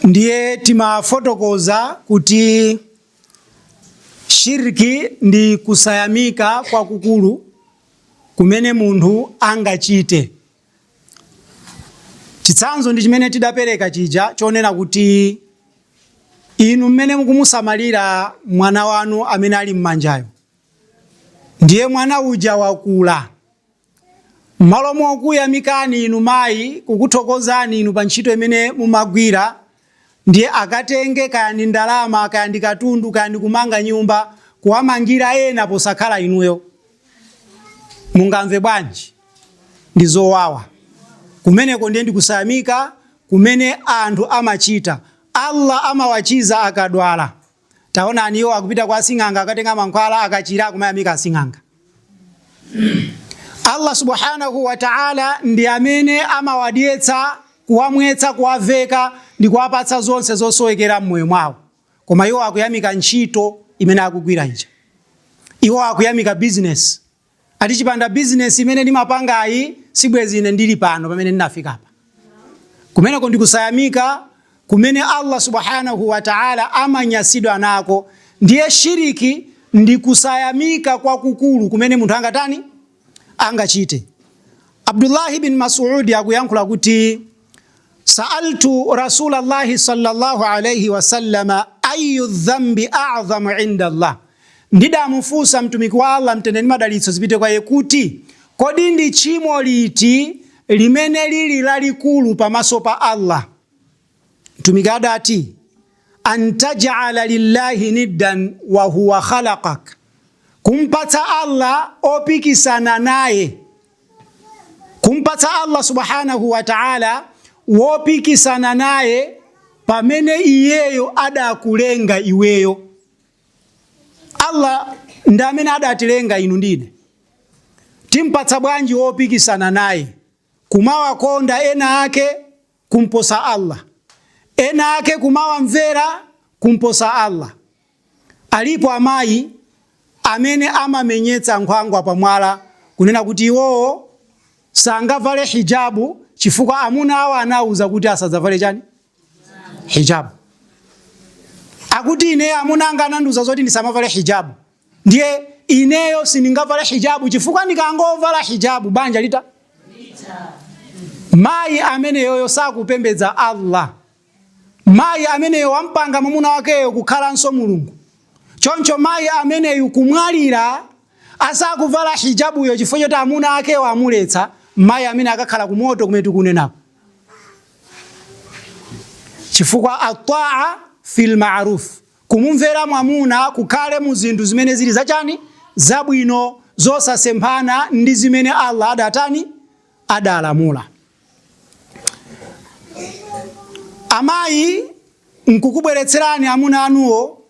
Ndiye timafotokoza kuti shirk ndi kusayamika kwakukulu kumene munthu angachite. Chitsanzo ndi chimene tidapereka chija chonena kuti inu mmene mukumusamalira mwana wanu amene ali m'manjayo, ndiye mwana uja wakula M'malo mokuyamikani inu mayi kukuthokozani inu pa ntchito imene mumagwira ndiye akatenge kaya ndi ndalama kaya ndi katundu kaya ndi kumanga nyumba kuwamangira ena posakhala inuyo. Mungamve bwanji? Ndi zowawa. Kumeneko ndiye ndi kusayamika kumene anthu amachita. Allah amawachiza akadwala. Taonani, iwo akupita kwa asing'anga akatenga mankhwala, akachira akumayamika asing'anga. Allah subhanahu wa ta'ala ndi amene amawadyetsa, kuwamwetsa, kuwaveka ndi kuwapatsa zonse zosowekera m'moyo mwawo. Koma iwo akuyamika ntchito imene akugwira ija. Iwo akuyamika bizinesi. Ati chipanda bizinesi imene nimapangayi sibwezi ine ndili pano pamene ndinafikapa. Kumeneko ndikusayamika kumene Allah Subhanahu wa Ta'ala amanyasidwa nako. Ndiye shiriki ndikusayamika kwakukulu kumene munthu angatani? Angachite. Abdullah bin Mas'ud akuyankhula kuti Sa'altu Rasulallahi sallallahu alaihi wasallam ayyu dhambi a'dhamu inda Allah, ndidamufunsa mtumiki wa Allah mtende ndi madalitso zipite kwa iye kuti kodi ndi tchimo liti limene lili lalikulu pamaso pa Allah? Mtumiki adati an taj'ala lillahi niddan wa huwa khalaqak, kumpatsa Allah opikisana naye kumpatsa Allah subhanahu wa ta'ala wopikisana naye pamene iyeyo adakulenga iweyo. Allah ndi amene adatilenga inu ndi ine, timpatsa bwanji wopikisana naye kumawakonda ena ake kumposa Allah, ena ake kumawamvera kumposa Allah. Alipo amayi amene amamenyetsa nkhwangwa pa mwala kunena kuti iwowo sangavale hijabu chifukwa amuna awo anawuza kuti asadzavale chani hijabu. Akuti ine amuna anga ananduza zoti nisamavale hijabu, Ndiye ineyo sindingavale hijabu chifukwa ndikangovala hijabu banja litha mayi ameneyoyo sakupembedza Allah. Mayi ameneyo wampanga mwamuna wakeyo kukhalanso mulungu. Choncho mayi ameneyu kumwalira asakuvala hijabuyo chifukwa choti amuna akewo amuletsa, mayi ameneyo akakhala ku moto kumene tikunenako. Chifukwa atta'a fil ma'ruf, Kumumvera mwamuna kukhale mu zinthu zimene zili za chani? Zabwino, zosasemphana ndi zimene Allah adatani? Adalamula. Amayi nkukubweretserani amuna anuwo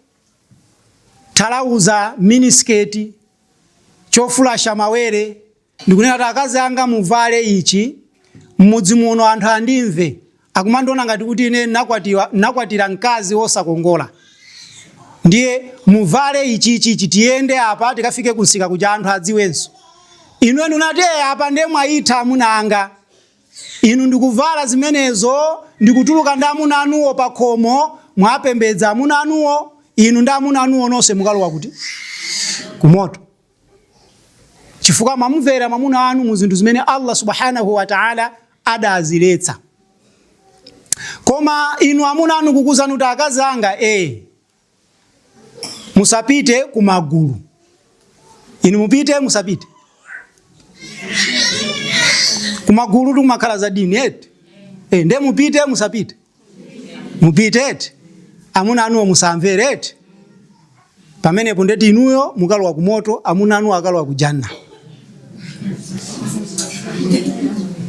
thalauza, minisiketi, chofulasha mawere, Ndikunena kuti akazi anga muvale ichi mmudzi muno anthu andimve, akumandiona ngati kuti ine ndinakwatiwa, ndinakwatira mkazi wosakongola. Ndiye muvale ichi, ichi, ichi, tiyende apa tikafike kunsika kuja anthu adziwenso. Inu eni munati eh, apa ndiye mwaitha amuna anga. Inu ndikuvala zimenezo ndikutuluka ndi amuna anuwo pa khomo, mwapembedza amuna anuwo, inu ndi amuna anuwo nonse mukalowa kuti? Kumoto. chifukwa mwamumvera mwamuna wanu mu zinthu zimene Allah subhanahu wa ta'ala adaziletsa. Koma inu amuna anu kukuuzani kuti akazi anga e, musapite kumagulu, inu mupite musapite kumagulu, kukumakhala za dini eti e, nde mupite musapite mupite eti amuna anuwo musamvere eti pamenepo nde kuti inuyo mukalowa ku moto amuna anuwo akalowa ku janna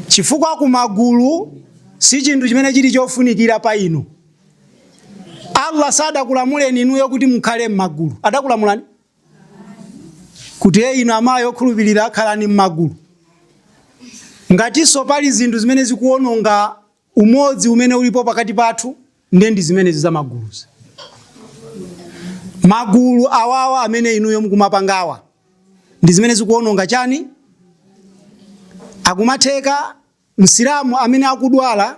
chifukwa ku magulu si chinthu chimene chili chofunikira pa inu allah sadakulamuleni inuyo kuti mukhale m'magulu adakulamulani kuti e inu amayi okhulupirira khalani m'magulu ngatinso pali zinthu zimene zikuwononga Umodzi umene ulipo pakati pathu nde ndi zimenezi za maguluzi. Magulu awawa amene inuyo mukumapangawa ndi zimene zikuononga chani? Zikumatheka Msilamu amene akudwala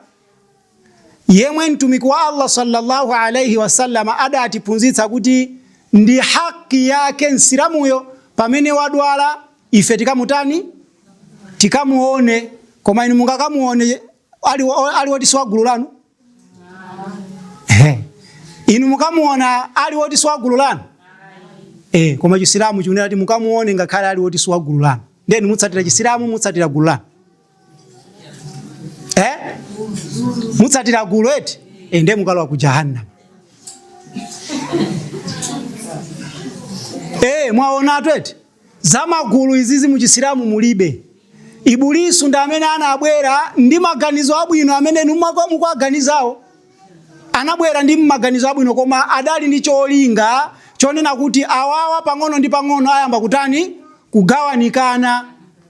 yemwe Mtumiki wa Allah sallallahu alaihi wasallam adatiphunzitsa kuti ndi haki yake Msilamuyo pamene wadwala ife tikamutani? tikamuone koma inu mungakamuone ali, ali woti siwagulu lanu Ehe. inu mukamuona ali woti siwagulu lanu Eh, koma chisilamu chikunena kuti mukamuone ngakhale ali woti siwagulu lanu then mutsatira chisilamu mutsatira gulu lanu eh? mutsatira gulu eti eh, ndiye mukalowa ku jahannam eh, mwaonatu eti Zamagulu izizi muchisilamu mulibe. Ibulisu ndi amene anabwera ndi maganizo abwino amene inu mukuwaganizawo. Anabwera ndi maganizo abwino koma adali ndi cholinga chonena kuti awawa pang'ono ndi pang'ono ayamba kutani? Kugawanikana.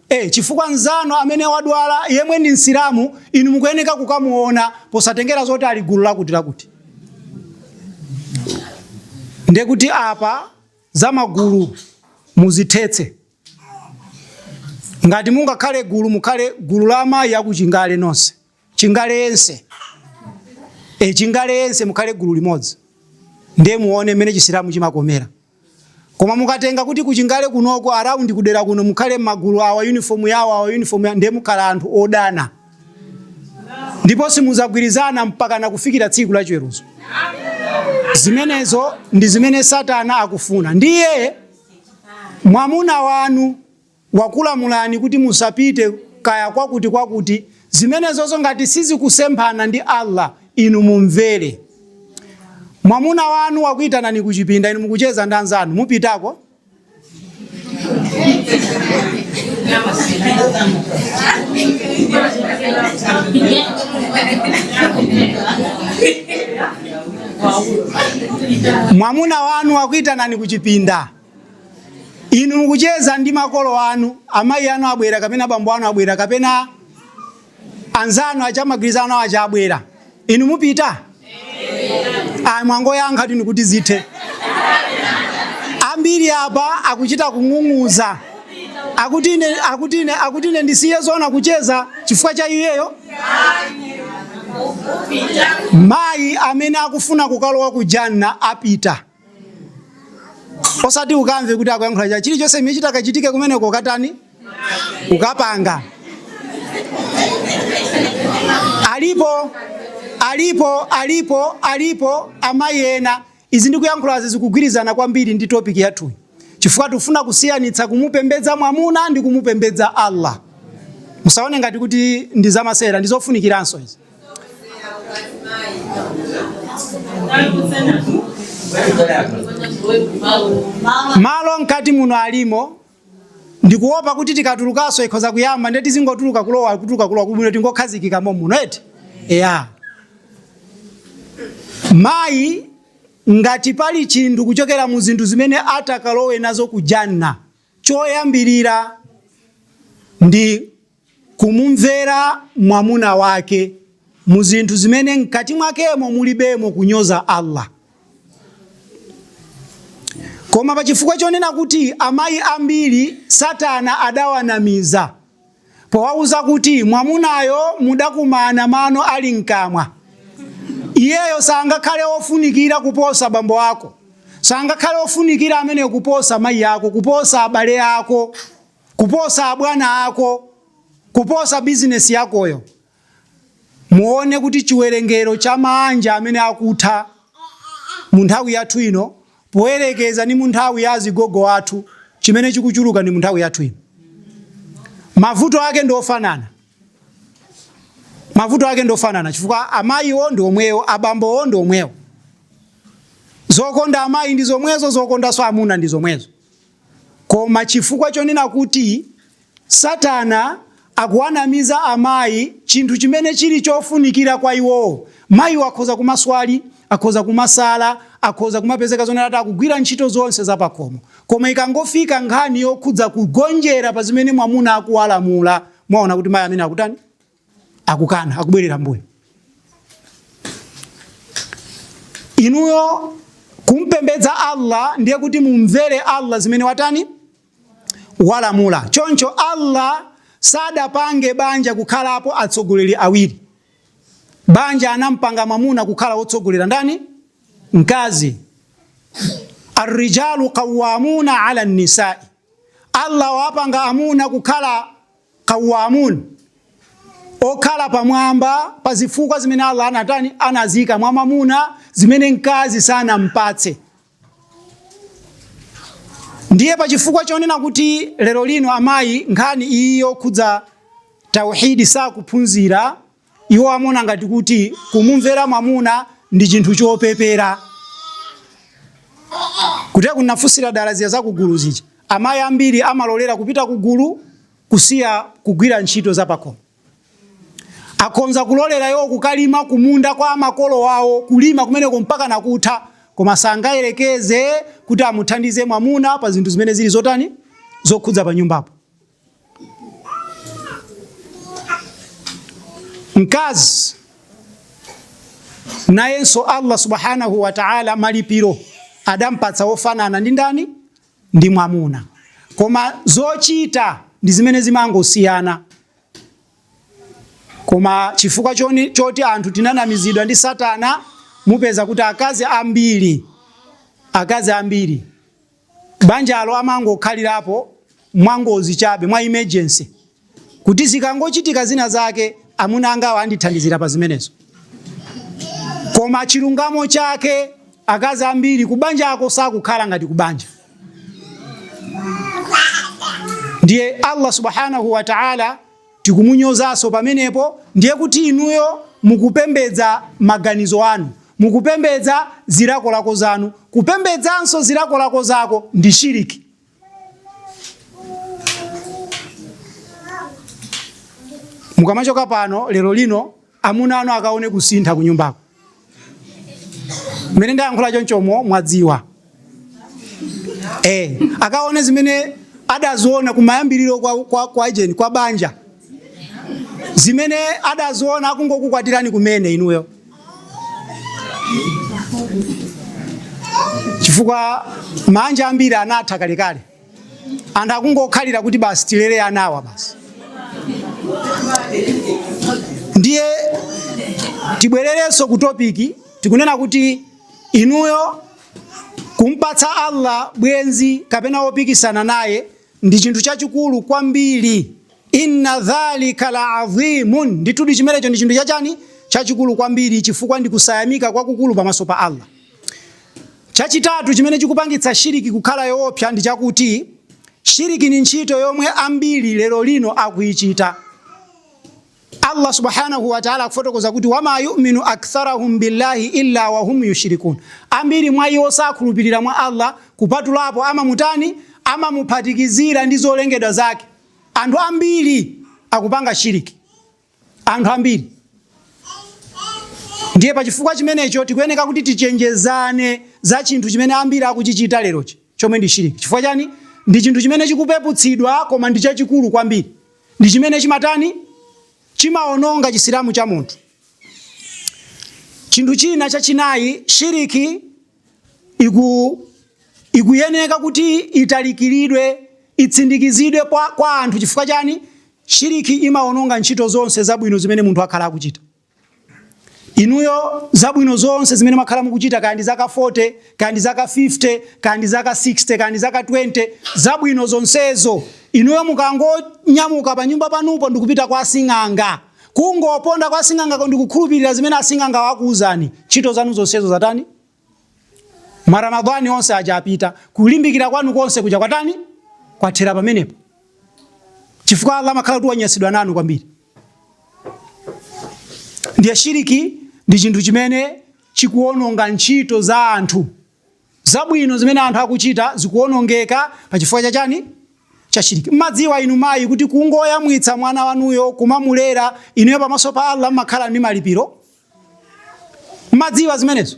E, chifukwa mzanu amene wadwala yemwe ndi msilamu inu mukuyeneka kukamuona posatengera zoti ali gulu lakuti lakuti. Ndekuti apa za magulu muzithetse. Ngati mungakhale gulu, mukhale gulu la amayi akuchingale nonse, chingale yense e, chingale yense mukhale gulu limodzi, ndiye muone mmene chisilamu chimakomera. Koma mukatenga kuti kuchingale kunoko around kudera kuno mukhale magulu awa uniform yawo awa uniform, ndiye mukhala anthu odana. ndipo simuzagwirizana mpakana kufikira tsiku la chiweruzo. Zimenezo ndi zimene Satana akufuna. Ndiye mwamuna wanu wakulamulani kuti musapite kaya kwakuti kwakuti, zimenezozo ngati sizikusemphana ndi Allah, inu mumvere. Mwamuna wanu wakuitanani kuchipinda, inu mukucheza ndi anzanu, mupitako? mwamuna wanu wakuitanani kuchipinda inu mukucheza ndi makolo anu amayi anu abwera kapena bambo anu abwera kapena anzanu aja mumagwirizana nawo aja abwera inu mupita ayi mwangoyankha tu ndi kuti zithe ambiri apa akuchita kung'ung'uza akuti ine akuti ine akuti ine ndisiye zona kucheza chifukwa cha iyeyo mayi amene akufuna kukalowa ku janna apita osati ukamve kuti akuyankhula cha chilichonse chimene chitakachitike kumeneko ukatani ukapanga alipo alipo alipo alipo amayi ena izi ndikuyankhulazi zikugwirizana kwambiri ndi topiki yathuyi chifukwa tifuna kusiyanitsa kumupembedza mwamuna ndi kumupembedza allah musaone ngati kuti ndi zamasewera ndizofunikiranso izi malo mkati muno alimo ndikuwopa kuti tikatulukanso ikhoza kuyamba nde tizingotuluka kulowa kutuluka kulowa kuli bwino tingokhazikika momuno eti eya mayi ngati pali chinthu kuchokera mu zinthu zimene atakalowe nazo kujanna choyambirira ndi Kumumvera mwamuna wake mu zinthu zimene mkati mwakemo mulibemo kunyoza Allah. Koma pa chifukwa chonena kuti amayi ambiri satana adawanamiza powauza kuti mwamunayo mudakumana mano ali mkamwa, iyeyo sangakhale ofunikira kuposa bambo ako, sangakhale ofunikira ameneyo kuposa mayi ako, kuposa abale ako. kuposa abwana ako, kuposa bizinesi yakoyo. Muone kuti chiwerengero cha maanja amene akutha mu nthawi yathu ino poyerekeza ndi mu nthawi ya azigogo athu, chimene chikuchuluka ndi mu nthawi yathu ino. Mavuto ake ndi ofanana, mavuto ake ndi ofanana chifukwa amayiwo ndi omwewo, abambowo ndi omwewo. Zokonda amayi ndi zomwezo, zokondanso amuna ndi zomwezo. Koma chifukwa chonena kuti Satana akuwanamiza amayi chinthu chimene chili chofunikira kwa iwowo, mayiwo akhoza kumaswali, akhoza kumasala, akhoza kumapezeka zonena kuti akugwira ntchito zonse za pakhomo. Koma ikangofika nkhani yokhudza kugonjera pa zimene mwamuna akuwalamula, muona kuti mayi ameneyo akutani? akukana akubwerera mbuyo inuyo mukumpembedza allah ndiye kuti mumvere allah zimene watani walamula choncho allah sadapange banja kukhalapo atsogoleri awiri banja anampanga mwamuna kukhala wotsogolera ndani mkazi arrijalu qawamuna ala nisai allah wapanga amuna kukhala Qawwaamuun, okhala pamwamba pa zifukwa zimene Allah anatani, anaziika mwa mwamuna zimene mkazi sanampatse. Ndiye pa chifukwa chonena kuti lero lino amayi nkhani iyi yokhudza Tauheed sakuphunzira, Iwo amaona ngati kuti kumumvera mwamuna ndi chinthu chopepera. Kuteroku ndinafunsira dala zija za kugulu zija. Amayi ambiri amalolera kupita kugulu kusiya kugwira ntchito zapakhomo. Akhonza kulolera iwo kukalima kumunda kwa makolo awo, kulima kumeneko mpaka nakutha, koma sangayerekeze kuti amuthandize mwamuna pa zinthu zimene zili zotani? Zokhudza panyumbapo. mkazi nayenso Allah subhanahu wa ta'ala malipiro adampatsa ofanana ndi ndani ndi mwamuna koma zochita ndi zimene zimangosiyana koma chifukwa choni, choti anthu tinanamizidwa ndi satana mupeza kuti akazi ambiri akazi ambiri Banjalo amangokhalirapo mwangozi chabe, mwa emergency, kuti zikangochitika zina zake amuna angawa andithandizira pa zimenezo. Koma chilungamo chake akazi ambiri kubanjako sakukhala ngati kubanja. Ndiye Allah subhanahu wa ta'ala tikumunyozanso pamenepo ndiye kuti inuyo mukupembedza maganizo anu mukupembedza zilakolako zanu kupembedzanso zilakolako zako ndi shiriki mukamachoka pano lero lino amuna anu akaone kusintha kunyumbako mmene ndayankhula chonchomo mwadziwa eh, akaone zimene adaziona kumayambiriro kwa, kwa, kwa ijeni kwa banja zimene adaziona akungokukwatirani kumene inuyo chifukwa maanja ambiri anatha kalekale anthu akungokhalira kuti basi tilere anawa basi ndiye tibwererenso ku topiki tikunena kuti inuyo kumpatsa Allah bwenzi kapena wopikisana naye ndi chinthu chachikulu kwambiri inna dhalika la adhimun ndithudi chimenecho ndi chinthu chachani chachikulu kwambiri chifukwa ndi kusayamika kwakukulu pamaso pa Allah Chachitatu chimene chikupangitsa shiriki kukhala yoopsa ndi chakuti shiriki ni ntchito yomwe ambiri lero lino akuichita. Allah subhanahu wa ta'ala akufotokoza kuti wama yu'minu aktharahum billahi illa wa hum yushrikun. Ambiri mwa iwo sakhulupirira mwa Allah kupatulapo amamutani amamuphatikizira ndi zolengedwa zake. Anthu ambiri akupanga shiriki. anthu ambiri. Ndiye pa chifukwa chimenecho tikuyeneka kuti tichenjezane za chinthu chimene ambiri akuchichita lerochi chomwe ndi shiriki. Chifukwa chani? Ndi chinthu chimene chikupeputsidwa koma ndi chachikulu kwambiri. Ndi chimene chimatani? Chimaononga chisilamu cha munthu. Chinthu china chachinayi, shiriki iku ikuyeneka kuti ilalikiridwe itsindikizidwe kwa, kwa anthu chifukwa chani shiriki imaononga ntchito zonse zabwino zimene munthu akhala akuchita inuyo zabwino zonse zimene makhala mukuchita kaya ndi zaka 40 kaya ndi zaka 50 kaya ndi zaka 60 kaya ndi zaka 20 zabwino zonsezo inuyo mukangonyamuka pa nyumba panupo ndikupita kwa sing'anga Kungoponda kwa sing'angako ndi kukhulupirira zimene asing'angawo akuuzani, ntchito zanu zonsezo zatani? Ma Ramadhani onse aja apita, kulimbikira kwanu konse kuja kwatani? Kwathera pamenepo, chifukwa Allah amakhala kuti wanyansidwa nanu kwambiri. Ndiye shiriki ndi chinthu chimene chikuwononga ntchito za anthu. Zabwino zimene anthu akuchita zikuonongeka pa chifukwa cha chani? Cha shiriki. Mmadziwa inu mayi kuti kungoyamwitsa mwana wanuyo, kumamulera, inuyo pamaso pa Allah mmakhala ndi malipiro? Mmadziwa zimenezo?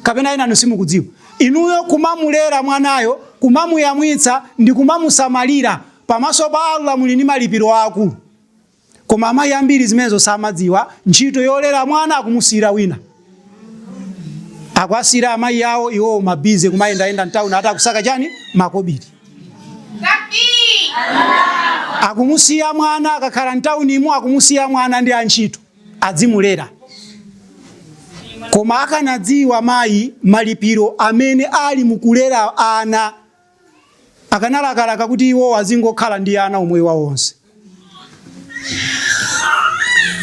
Kapena enanu simukudziwa? Inuyo kumamulera mwanayo, kumamuyamwitsa ndi kumamusamalira, pamaso pa Allah muli ndi malipiro aakulu. Koma amayi ambiri zimenezo samadziwa, ntchito yolera mwana akumusiyira wina. Akuwasiyira amayi awo iwowo mabize kumayendayenda mtauni ati akusaka chani makobiri. Akumusiya mwana akakhala mtaunimo akumusiya mwana ndi antchito adzimulera. Koma akanadziwa mayi malipiro amene ali mukulera ana akanalakalaka kuti iwowo azingokhala ndi ana umoyo wawo wonse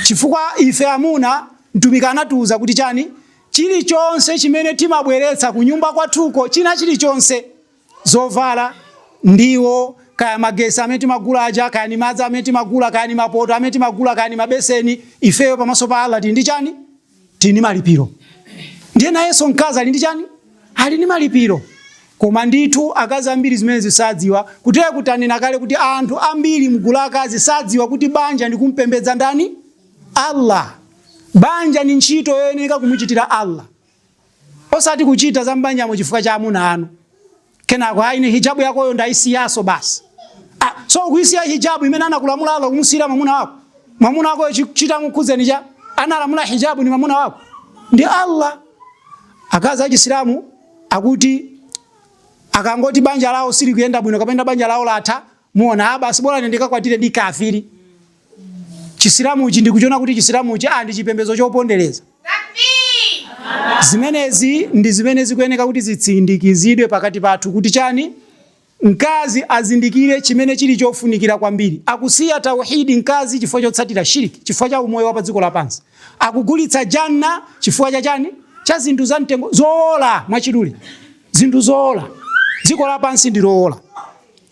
chifukwa ife amuna mtumiki anatiuza kuti chani chilichonse chimene timabweretsa ku nyumba kwathuko china chilichonse zovala ndiwo kaya magesi amene timagula aja kaya ni madzi amene timagula kaya ni mapoto amene timagula kaya ni mabeseni ifeyo pamaso pa allah tili ndi chani tili ndi malipiro ndiye nayenso mkazi ali ndi chani ali ndi malipiro koma ndithu akazi ambiri zimenezi sadziwa kutere tanena kale kuti anthu ambiri mgulu akazi sadziwa kuti banja ndi kumpembedza ndani allah banja ndi ntchito yoyeneka kumuchitira allah osati kuchita za m'banjamo chifukwa cha amuna anu kenako ayi ni hijabu yakoyo ndayisiyaso basi ah, so ukuyisiya hijabu imene anakulamula Allah kumusiyira mamuna wako mamuna wako chitamukhudze ni cha analamula hijabu ni mamuna wako ndi Allah akazi achisilamu akuti akangoti banja lawo silikuyenda bwino kapena banja lawo latha Muona, ah, basi bora nendika kwa tile di kafiri. Chisilamu uchi ndi kuchona kuti chisilamu uchi, ah, ndi chipembezo chopondeleza. Zimenezi ndi zimene zikuyeneka kuti zitsindikizidwe pakati pathu kuti chani mkazi azindikire chimene chili chofunikira kwambiri. Akusiya tauhidi mkazi chifukwa chotsatira shiriki, chifukwa cha umoyo wa pa dziko lapansi. Akugulitsa janna chifukwa cha chani? Cha zinthu za mtengo zoola mwachidule. Zinthu zoola. Dziko lapansi ndi loola.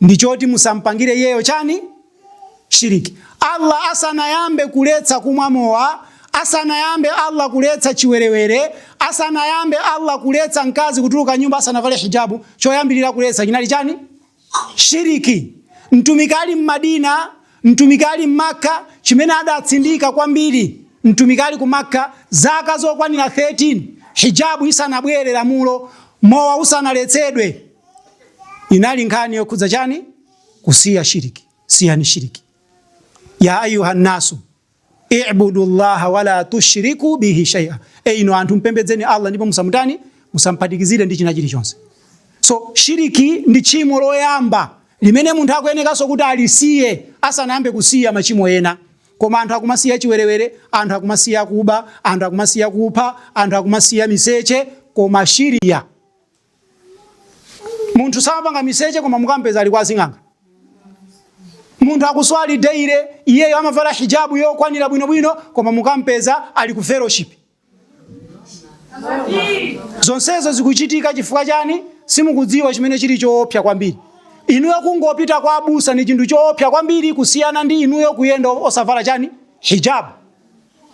ndi choti musamupangire Iyeyo chani? Shiriki. Allah asanayambe kuletsa kumwa mowa, asanayambe Allah kuletsa chiwerewere, asanayambe Allah kuletsa mkazi kutuluka m'nyumba asanavale hijabu, choyambirira kuletsa chinali chani? Shiriki. Mtumiki ali m'Madina, mtumiki ali m'Makka, chimene adatsindika kwambiri mtumiki ali ku Makka zaka zokwanira 13 hijabu isanabwere lamulo, mowa usanaletsedwe. inali nkhani yokhudza chani? Kusiya shiriki. Siyani shiriki. ya ayuha nnasu ibudu llaha wala tushriku bihi shaia, e inu anthu mpembedzeni Allah ndipo musamutani, musamphatikizire ndi china chilichonse. So shiriki ndi tchimo loyamba limene munthu akuyenekanso kuti alisiye asanayambe kusiya machimo ena. Koma anthu akumasiya chiwerewere, anthu akumasiya kuba, anthu akumasiya kupha, anthu akumasiya miseche, koma shiriki munthu samapanga miseche koma mukampeza ali kwa sing'anga munthu akuswali daily iyeyo amavala hijabu yokwanira bwinobwino koma mukampeza ali ku fellowship zonsezo zikuchitika chifukwa chani simukudziwa chimene chili choopsa kwambiri inuyo kungopita kwa abusa ndi chinthu choopsa kwambiri kusiyana ndi inuyo kuyenda osavala chani hijabu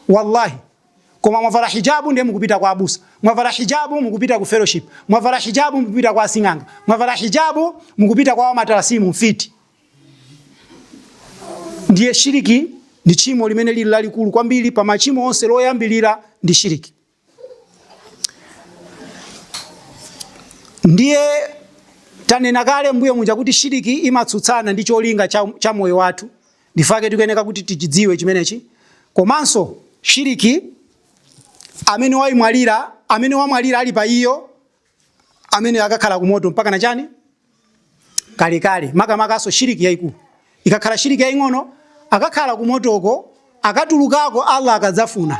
wallahi Koma mwavala hijabu ndiye mukupita kwa abusa. Mwavala hijabu mukupita ku fellowship. Mwavala hijabu mukupita kwa asing'anga. Mwavala hijabu mukupita kwa wamatalasimu mfiti. Ndiye shiriki ndi tchimo limene lili lalikulu kwambiri pa machimo onse, loyambirira ndi shiriki. Ndiye tanena kale mbuyo muja kuti shiriki imatsutsana ndi cholinga cha, cha moyo wathu N'chifukwa chake tikuyeneka kuti tichidziwe chimenechi. Komanso shiriki amene waimwalira, amene wamwalira ali pa iyo, ameneyo akakhala ku moto mpaka na chani? Kalekale. Makamakanso shiriki yaikulu. Ikakhala shiriki yaing'ono, akakhala ku motoko, akatulukako Allah akadzafuna.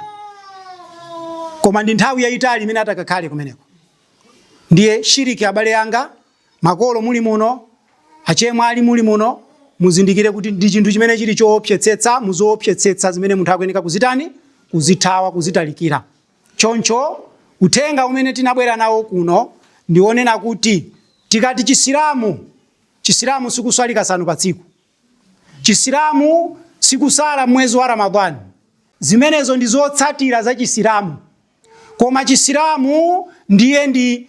Koma ndi nthawi yaitali imene atakakhale kumeneko. Ndiye shiriki abale anga Makolo muli muno, achemwali muli muno, muzindikire kuti ndi chinthu chimene chili choopsetsetsa mu zoopsetsetsa zimene munthu akuyeneka kuzitani? Kuzithawa, kuzitalikira. Choncho uthenga umene tinabwera nawo kuno ndi wonena kuti tikati Chisilamu, Chisilamu si kuswali kasanu pa tsiku. Chisilamu si kusala m'mwezi wa Ramadhaan. Zimenezo ndi zotsatira za Chisilamu. Koma Chisilamu ndiye ndi.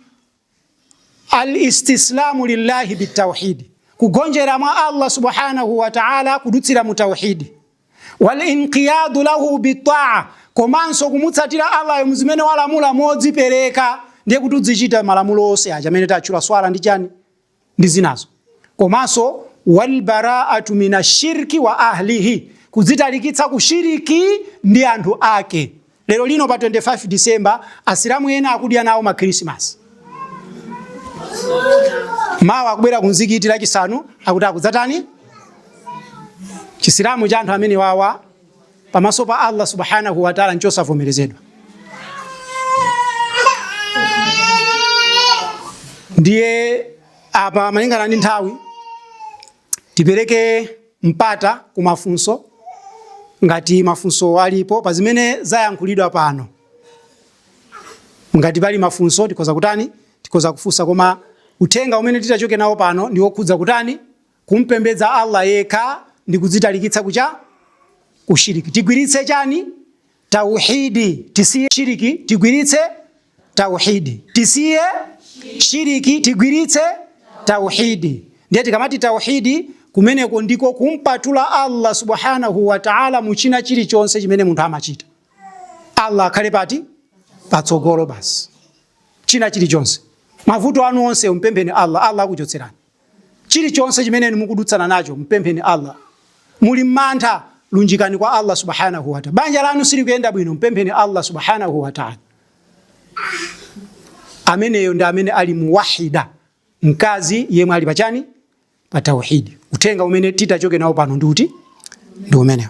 Al-istislamu lillahi bitawhidi, kugonjera mwa Allah subhanahu wa ta'ala kudutsira mu tawhidi. Wal-inqiyadu lahu bitaa, komanso kumutsatira Allahyo mu zimene walamula modzipereka ndiye kuti udzichita malamulo onse aja amene tatchula swala ndi chani ndi zinazo. Komanso wal baraatu mina shirki wa ahlihi, kudzitalikitsa ku shiriki ndi anthu ake. Lero lino pa 25 December asilamu ena akudya nawo ma Christmas. Mawa akubwera kumzikiti Lachisanu akuti akudzatani chisilamu cha anthu amenewawa pamaso pa Allah subhanahu wa ta'ala nchosavomerezedwa ndiye apa malingana ndi nthawi tipereke mpata ku mafunso ngati mafunso alipo pa zimene zayankhulidwa pano ngati pali mafunso tikhoza kutani tikhoza kufunsa koma uthenga umene titachoke nawo pano ndi wokhudza kutani kumpembedza Allah yekha ndi kudzitalikitsa ku cha? Ku shiriki. Tigwiritse chani? Tauhidi. Tisiye shiriki, tigwiritse tauhidi. Tisiye shiriki, tigwiritse tauhidi. Ndiye tikamati tauhidi kumeneko ndiko kumpatula Allah subhanahu wa ta'ala mu china chilichonse chimene munthu amachita. Allah akhale pati? Patsogolo basi. China chilichonse. Mavuto anu onse umpempheni Allah, Allah akuchotserani. Chilichonse chimene inu mukudutsana nacho, mpempheni Allah. Muli mmantha, lunjikani kwa Allah subhanahu wa ta'ala. Banja lanu silikuyenda bwino, mpempheni Allah subhanahu wa ta'ala. Ameneyo ndi amene ali muwahida, mkazi yemwe ali pachani pa tauhidi. Uthenga umene titachoke nawo pano ndi uti? Ndi umenewo.